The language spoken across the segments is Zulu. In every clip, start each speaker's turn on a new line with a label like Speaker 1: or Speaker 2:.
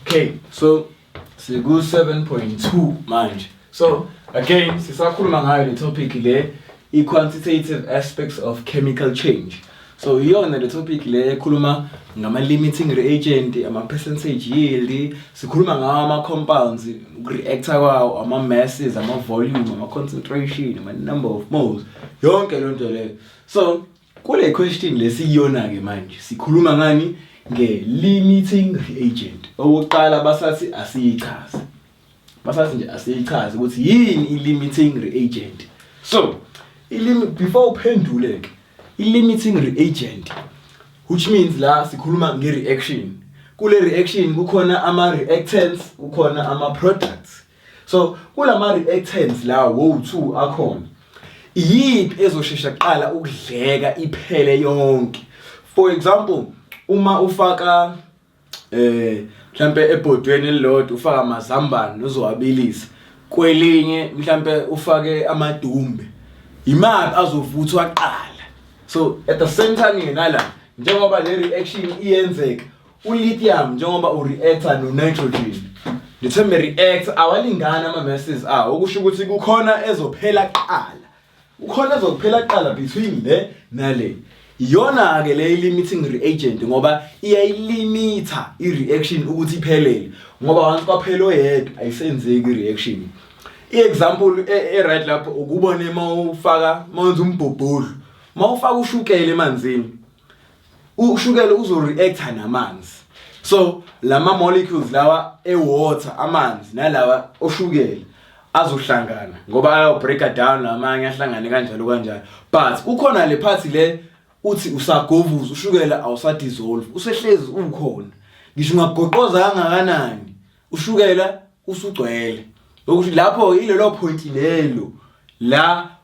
Speaker 1: okay so siku 7.2 manje so again sisakhuluma ngayo le topic le i quantitative aspects of chemical change so iyona le topic le ekhuluma ngama limiting reagent ama percentage yield sikhuluma ngawo ama compounds reactor kwawo ama masses ama volume ama concentration ama number of moles yonke lonto leyo So kule question lesiyona ke manje sikhuluma ngani nge limiting reagent. Okokuqala basathi asiyichaze. Basathi nje asiyichaze ukuthi yini i limiting reagent. So i limit before uphendule ke i limiting reagent which means la sikhuluma nge reaction. Kule reaction kukhona ama reactants, kukhona ama products. so kulama reactants la wo two akhona iyiphi ezoshesha kuqala ukudleka iphele yonke for example uma ufaka eh mhlambe ebhodweni elilodwa ufaka amazambane uzowabilisa kwelinye mhlambe ufake amadumbe imaphi azovuthwa kuqala so at the same time yena la njengoba le reaction iyenzeka ulithium njengoba ureacta nonitrogen the term react awalingani ama-masses awo okusho ukuthi kukhona ezophela kuqala kukhona ezokuphela kuqala between le nale iyona-ke le i-limiting reagent ngoba iyayilimitha i-reaction ukuthi iphelele ngoba once kwaphela oyedwa ayisenzeki i-reaction i-example e- e-right lapho ukubone uma ufaka uma wenza umbhubhudlu uma ufaka ushukela emanzini ushukela uzo reacta namanzi so lama molecules lawa ewater amanzi nalawa oshukela azohlangana ngoba ayo breaker down lamanye ahlangane kanjalo kanjalo but kukhona le part le uthi usagovuza ushukela awusadissolve usehlezi ukhona ngisho ungagoqoza kangakanani ushukela usugcwele ukuthi lapho ilelo point lelo la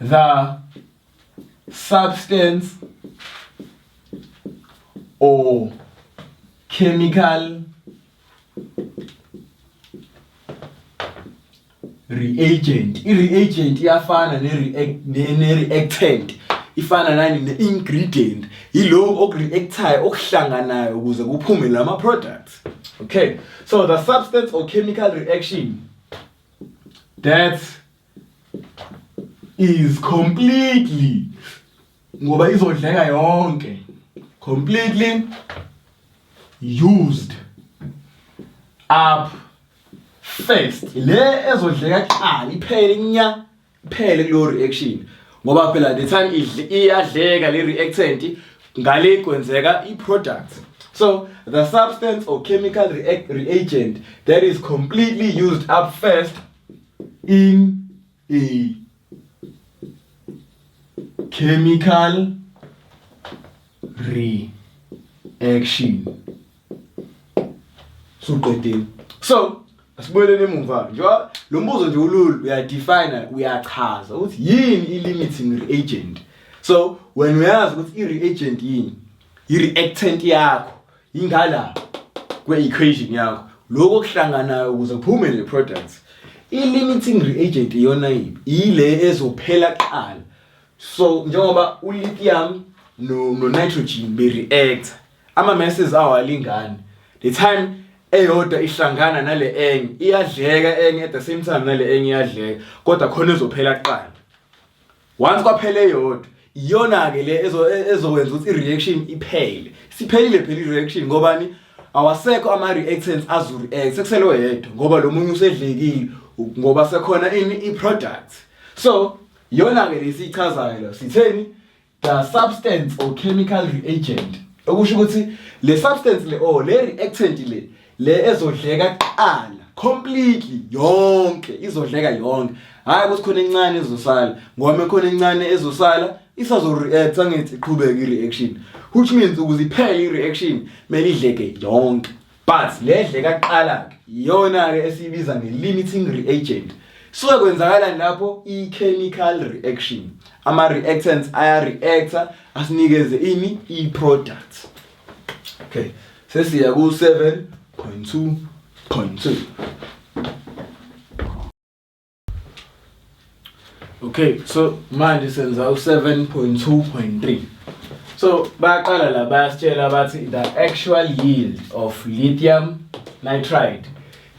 Speaker 1: the substance or chemical reagent i-reagent iyafana ne-reactant ifana nani ne-ingredient yiloko oku-reactayo okuhlanganayo ukuze kuphume lama-products okay so the substance or chemical reaction that is completely ngoba izodleka yonke completely used up first le ezodleka kuqala iphele nya phele kuleyo reaction ngoba phela the time idle iyadleka le reactant ngale kwenzeka i product so the substance or chemical react reagent that is completely used up first in a chemical reaction suqedile so asibuyeleni emuva njengoba lo mbuzo nje ulula uyadefine uyachaza ukuthi yini i-limiting reagent so wena uyazi ukuthi i-reagent yini i-reactant yakho ingala kwe-equation yakho lokho okuhlanganayo ukuze kuphume le product i-limiting reagent iyona yini ile ezophela kuqala so njengoba u-lithium no-nitrogen be-reactor Ama messes awalingani. The time eyodwa ihlangana nale enye iyadleka enye at the same time nale enye iyadleka kodwa khona ezophela kuqala. Once kwaphela eyodwa iyona ke le ezo e, ezokwenza ukuthi ireaction iphele. Siphelile phela ireaction ngobani? Awasekho ama reactants azu react sekusele oyedwa ngoba lo munye usedlekile ngoba sekhona ini i product. So iyona ke lesichazayo sitheni? the substance or chemical reagent okusho ukuthi le substance le or le reactant le le ezodleka kuqala completely yonke izodleka yonke hayi ukuthi khona encane ezosala ngoba khona encane ezosala isazoreact angithi iqhubeke i-reaction which means ukuze iphele i-reaction kumele idleke yonke But le dle kaqala ke iyona ke esiyibiza nge-limiting reagent. Suke kwenzakalani lapho i-chemical reaction. Ama-reactants aya-reacta asinikeze ini i-product. Okay, sesiya ku-7.2.2. Okay so manje senza u7.2.3 So bayaqala la bayasitshela bathi the actual yield of lithium nitride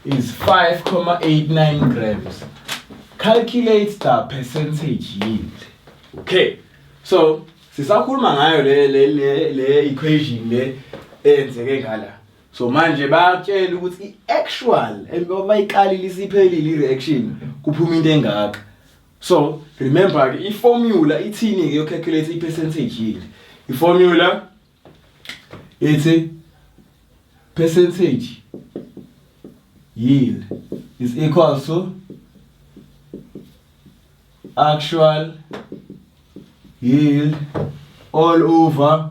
Speaker 1: is 5.89 grams. Calculate the percentage yield. Okay. So sisakhuluma ngayo le le le equation le eyenzeke ngala. so manje bayatshela ukuthi i-actual and uma iqalile isiphelile i-reaction kuphuma into engaka so remember ke i-formula ithini ke yocalculate i-percentage yield i-formula ithi percentage yield is equal to actual yield all over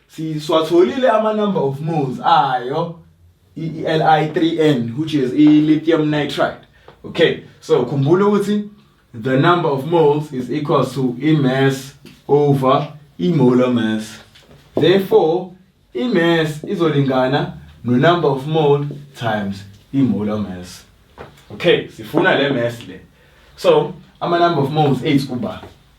Speaker 1: Siswatholile ama number of moles ayo iLi3N which is i-lithium nitride. Okay, so khumbula ukuthi the number of moles is equal to i-mass over i-molar mass. Therefore, i-mass izolingana no number of mole times i-molar mass. Okay, sifuna le mass le. So, ama number of moles ethu kuba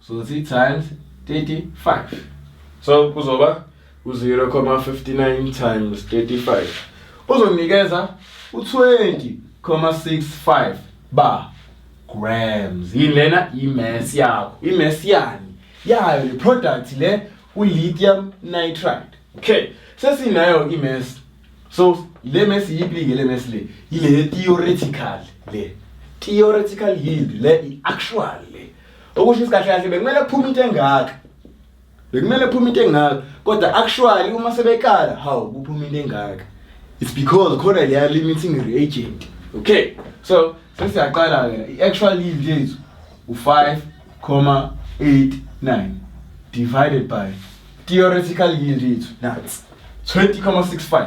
Speaker 1: so zi times 35 so kuzoba u-0,59 times 35 uzonikeza u-20,65 ba grams yini lena imass yakho imass yani yayo le product le u-lithium nitride okay sesinayo imass so le mass yiphi-ke le mass le yile theoretical le theoretical yield le i-actual okusho isikahle kahle bekumele kuphume into engaka bekumele kuphume into engaka kodwa actually uma sebekala hawu kuphume into engaka it's because khona leya limiting reagent okay so sesiyaqala ke i-actual yield yethu u-5,89 divided by theoretical yield yethu nats 20,65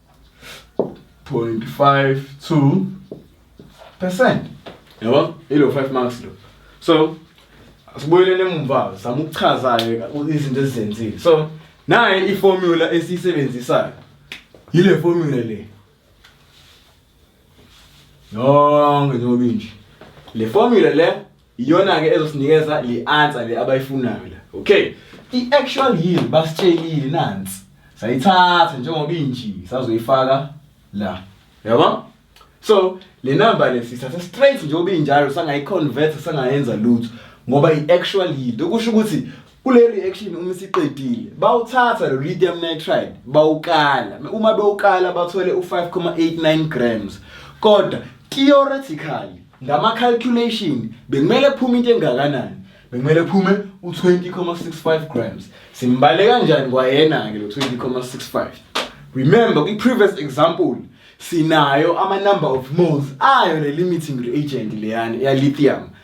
Speaker 1: 0.52 percent yabo ilo 5 marks lo so asibuyelele emumva zama ukuchazayo izinto ezizenzile so naye iformula esiyisebenzisayo yile formula le yonke njengoba inje le formula le iyona ke ezosinikeza le answer le abayifunayo la okay i actual yield basitshelile nansi sayithatha njengoba inji sazoyifaka la yabo so le number le sithatha straight njengoba injalo sangayiconvert sangayenza lutho ngoba i actual yield okusho ukuthi kule reaction uma isiqedile bawuthatha lo lithium nitride bawukala uma bewukala bathole u5,89 grams kodwa theoretically ngama calculation bekumele kuphume into engakanani bekumele kuphume u20,65 grams simbale kanjani kwayena ke lo 20,65 remember kwi previous example sinayo ama number of moles ayo le limiting reagent leyani ya lithium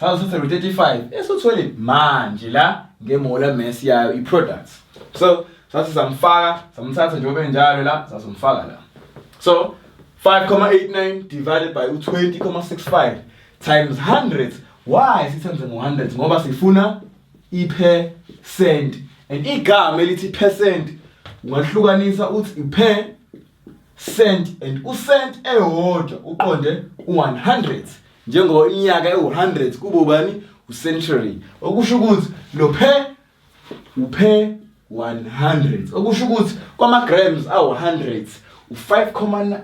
Speaker 1: Sasithatha ngo-35 esothwele manje la ngemola mess yayo i-products so sathi samfaka samthatha njengoba enjalo la sasomfaka la so 5,89 divided by u-20,65 times 100 why sithenze ngo-100 ngoba sifuna i-percent and igama elithi percent ungahlukanisa uthi i-per cent and u-cent eyodwa uqonde u-100 njengoba iminyaka ewu-100 kubo bani ucentury okusho ukuthi lo phe uphe 100 okusho ukuthi kwama-grams awu-100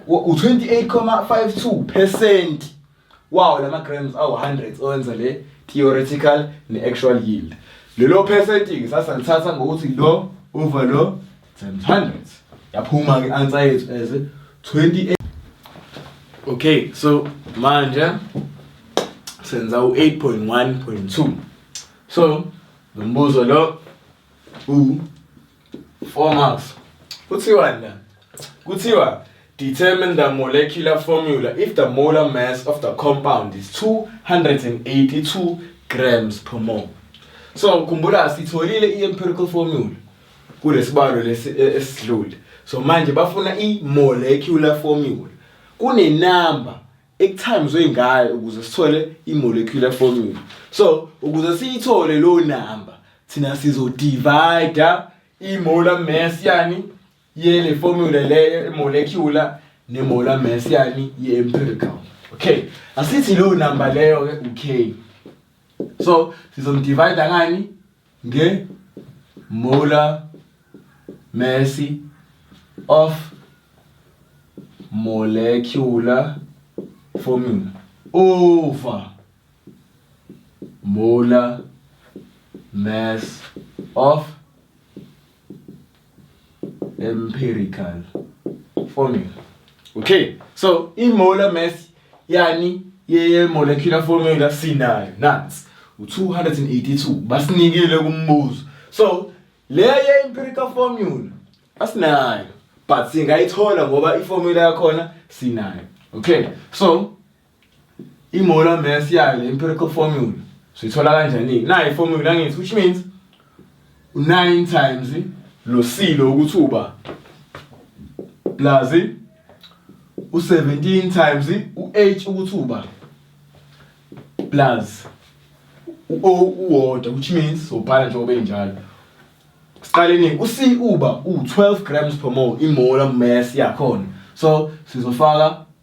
Speaker 1: u-28,52 percent wawo la ma-grams awu-100 owenza le theoretical ne-actual yield lelo percent-ke sasalithatha ngokuthi lo over lo Times 100. Yaphuma ke answer yethu as 28. Okay, so manje senza u-8.1.2. So lo mbuzo lo u 4 marks. Kuthiwa na? Kuthiwa determine the molecular formula if the molar mass of the compound is 282 grams per mole. So khumbula sitholile i-empirical formula. kulesibalo lesi e, esidlule so manje bafuna i molecular formula kune number ekuthamizwe ngayo ukuze sithole i molecular formula so ukuze siyithole lo number thina sizo divide i molar mass yani yele formula leyo i molecular ne molar mass yani ye empirical okay asithi lo number leyo ke u k so sizomdivide ngani nge Muller Messi of molecular formula over molar mass of empirical formula okay so imolar mass yani ye molecular formula sinayo nansi u282 basinikile kumbuzo so le ye empirical formula asinayo but singayithola ngoba iformula yakhona sinayo okay so I-molar mass yayo le empirical formula sithola kanjani nayo i-formula angithi which means 9 times lo silo ukuthi uba plus u17 times u8 ukuthi uba plus u uwodwa which means sobhala nje obenjalo siqaleni u-C uba u12 grams per mole i-molar mass yakhona so sizofaka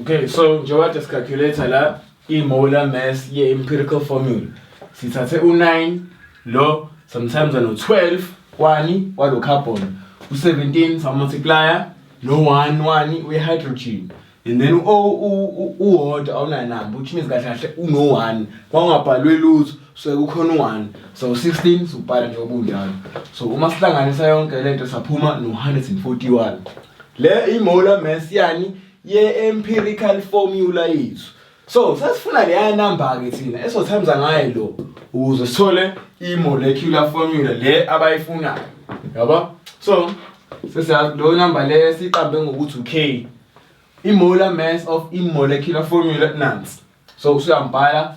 Speaker 1: Okay, so njengoba just calculator la i molar mass ye empirical formula. Sithathe u9 lo sometimes ano 12 kwani walo carbon u17 sa multiplier no 1 1 we hydrogen and then u o u u order awunanamba which means kahle kahle uno 1 kwangabhalwe lutho so kukhona u-one so sixteen siwubhala nje obunjalo so uma sihlanganisa yonke le nto saphuma no-hundred and forty one le imola mass yani ye-empirical formula yethu so sasifuna leya namba-ke thina esothamza ngayo lo ukuze sithole i-molecular formula le abayifunayo yabo so sesiyazi lo namba le siqambe ngokuthi u-k i-molar mass of i-molecular formula nansi so usuyambhala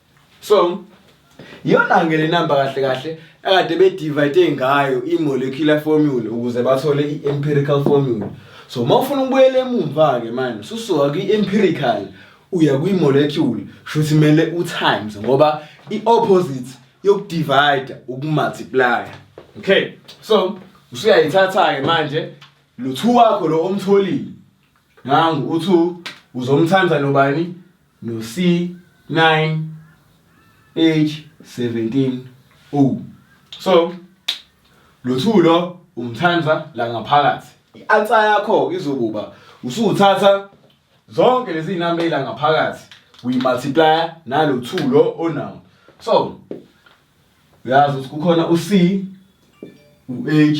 Speaker 1: so iyona ke le number kahle kahle akade bedivide ngayo i-molecular formula ukuze bathole i-empirical formula so uma ufuna ukubuyela emumva-ke manje susuka kwi-empirical uya kwi-molecule shuthi kumele u-times ngoba i-opposite yokudivida ukumultiplya okay so usuyayithatha-ke manje luthu wakho lo omtholile nangu u-two uzomthanda nobani no-C9 H17 O so lothulo umthanza la ngaphakathi i-answer yakho izokuba usuthatha zonke lezi zinamba ila ngaphakathi uyi-multiply nalothulo onawo so uyazi ukuthi kukhona u-C u-H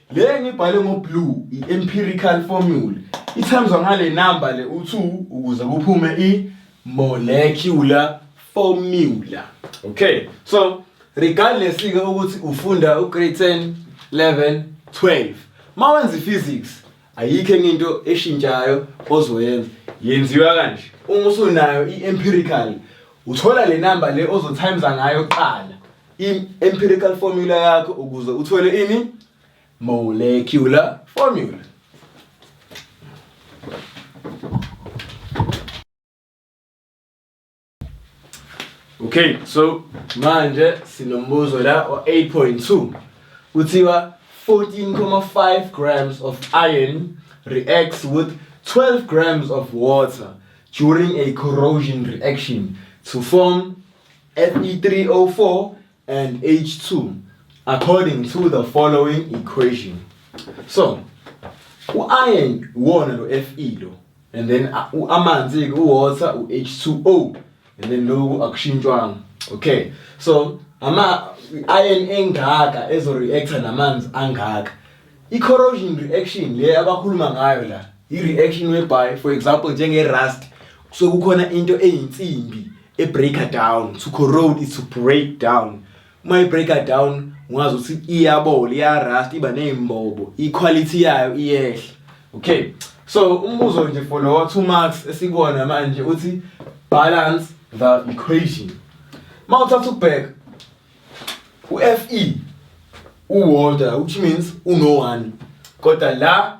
Speaker 1: le ngibhale ngoblue i-empirical formula ithamzwa ngale namba le u-2 ukuze kuphume i-molecular formula okay so regardless-ke ukuthi ufunda ugrade 10 11 12 ma wenza i-physics ayikho enye into eshintshayo ozoyenza yenziwa kanje uma usunayo i-empirical uthola le namba le ozothayimza ngayo kuqala i-empirical formula yakho ukuze uthole ini molecular formula Okay so manje sinombuzo la o 8.2 kuthiwa 14.5 grams of iron reacts with 12 grams of water during a corrosion reaction to form Fe3O4 and H2 according to the following equation. So, u-iron uwona lo Fe lo and then a- u- amanzi-ke uwater u-H2O and then loku akushintshwanga. Okay. So, ama iron engaka ezoreacta namanzi angaka. I-corrosion reaction le abakhuluma ngayo la, i-reaction whereby for example njenge-rust kusuke kukhona into eyinsimbi e breaker down to corrode is to break down uma i breaker down ungazi ukuthi iyabola iya rust iba nezimbobo i quality yayo iyehla okay so umbuzo nje for lo two marks esikuwona manje uthi balance the equation mawuthatha ubheka uFE uWalter which means uno one kodwa la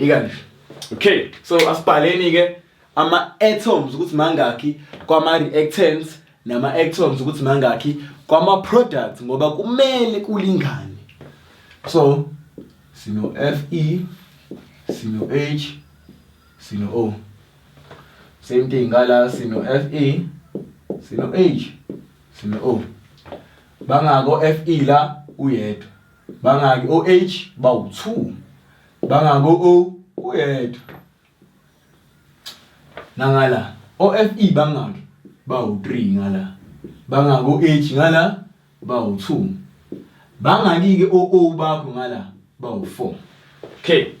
Speaker 1: ikanje okay so asibhaleni ke ama atoms ukuthi mangakhi kwama reactants nama atoms ukuthi mangakhi kwama products ngoba kumele kulingane so sino fe sino h sino o same thing ngala sino fe sino h sino o bangako fe la uyedwa bangaki o-h bawu-two bangaki o-o kuyedwa nangala o-fe bangaki bawu-three ngala bangaki o-h ngala bawu-two bangaki-ke o-o bakho ngala bawu-four okay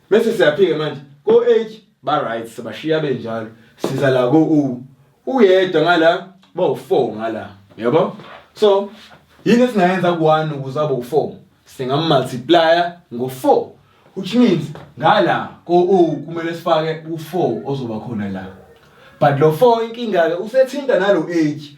Speaker 1: Bese siyaphika manje ko H ba right sebashiya benjalo siza la ko U uyedwa ngala bawu 4 ngala yabo so yini esingayenza ku1 ukuze abe u4 singamultiplier ngo4 which means ngala ko U kumele sifake u4 ozoba khona la but lo 4 inkinga ke usethinta nalo H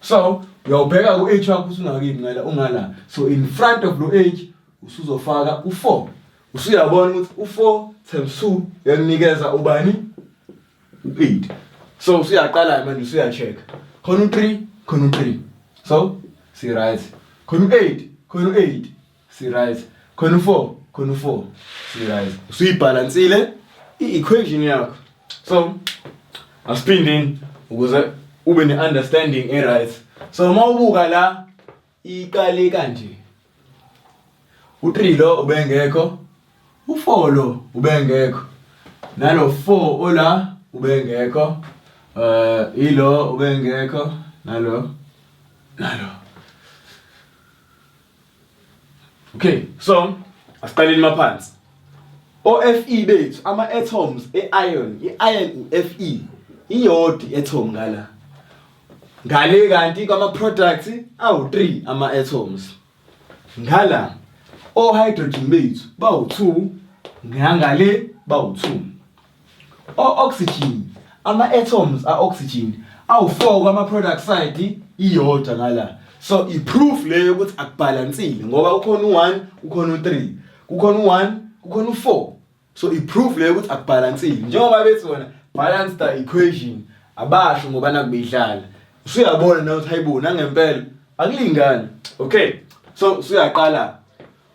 Speaker 1: so uyawubheka ku-age wakho usungakimi ngala ungala so in front of lo age usuzofaka u-four usuyabona ukuthi u-four times two yakunikeza ubani u-eight so usuyaqala manje usuya-check khona u-three khona u-three so si-right khona u-eight khona u-eight sirise khona u-four khona u-four sirise usuyibhalansile i-equation yakho so asiphindeni ukuze ube ne-understanding e-right so uma ubuka la iqale kanje u-three lo ubengekho u-four lo ubengekho nalo four ola ubengekho um ilo ubengekho nalo nalo Okay, so asiqaleni maphansi. OFe bethu ama atoms eiron, iiron uFe iyodi atom ngala. Ngale kanti kwama products awu3 ama atoms. Ngala ohydrogen bethu bawu2 ngangale bawu2. O-oxygen, ama-atoms a-oxygen awu-4 kwama-peroxide iyodwa ngala. So i-proof le yokuthi akubhalansile ngoba ukhona u-1, ukhona u-3, kukhona u-1, kukhona u-4. So i-proof le yokuthi akubhalansile njengoba bethi wona balance the equation abasho ngoba nakubeyidlala. Usuyabona na ukuthi hayibo nangempela akulingani. Okay, so usuyaqala.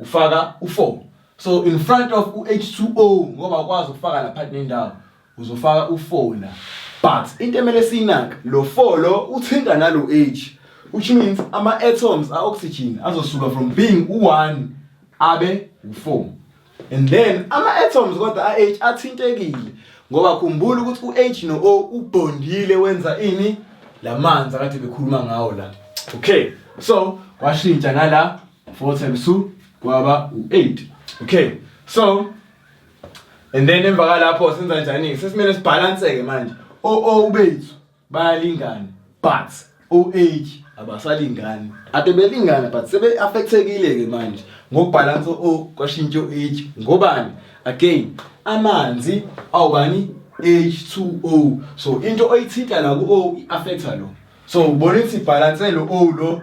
Speaker 1: ufaka u4 so in front of uH2O ngoba ukwazi ukufaka lapha nendawo uzofaka u4 la but into emele siyinaka lo 4 lo uthinta nalo H which means ama atoms a oxygen azosuka from being u1 abe u4 and then ama atoms kodwa a H athintekile ngoba khumbula ukuthi uH no O ubondile wenza ini lamanzi akade bekhuluma ngawo la okay so washintsha ngala 4 times 2 kwaba u8 okay so and then emva kalapho senza kanjani sesimele sibhalanseke manje o o bethu bayalingana but o age abasalingani ade belingana but sebe affectekile ke manje ngokubhalansa o kwashintsha o age ngobani again amanzi awubani H2O so into oyithinta la ku O affecta lo so ubona ukuthi balance lo O lo